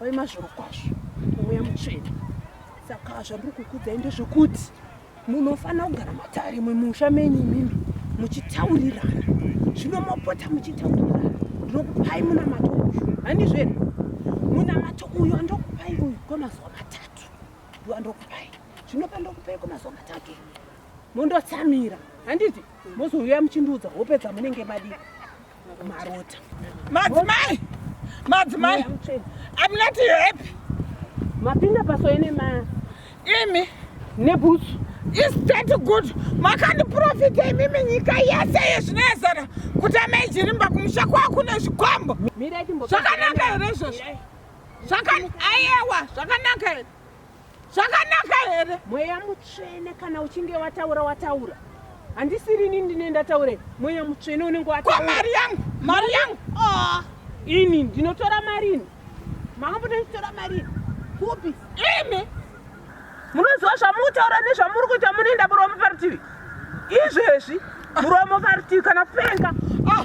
Wai mazvoro kwazvo mweya mutsvene. Saka zvandiri kukudzai ndezvekuti munofanira kugara matare mumusha menyu imimi muchitaurirana zvino mopota muchitaurirana ndinokupai munamato uyu handizvo here munamato uyu andokupai uyu kwemazuva matatu ndo andokupai zvino pandokupai kwemazuva matatu mondotsamira handiti mozouya muchindiudza hope dzamunenge madii marota madzimai madzimai i'm not happy mapinda paso ine ma imi nebhutsu is that good makandiprofita imimi nyika yese yezvinezana kuti amaijirimba kumusha kwaa kune zvikwambo zvakanaka here izvozvo ayewa zvakanaka here zvakanaka here mweya mutsvene kana uchinge wataura wataura handisiri ini ndine ndataure mweya mutsvene unenge wataura mari yangu mari yangu ah. ini ndinotora marini makamboda ndichitora marini kupi imi munoziva zvamutaura nezvamuri kuita munoenda muromo parutivi izvezvi muromo parutivi kana kupenga ah.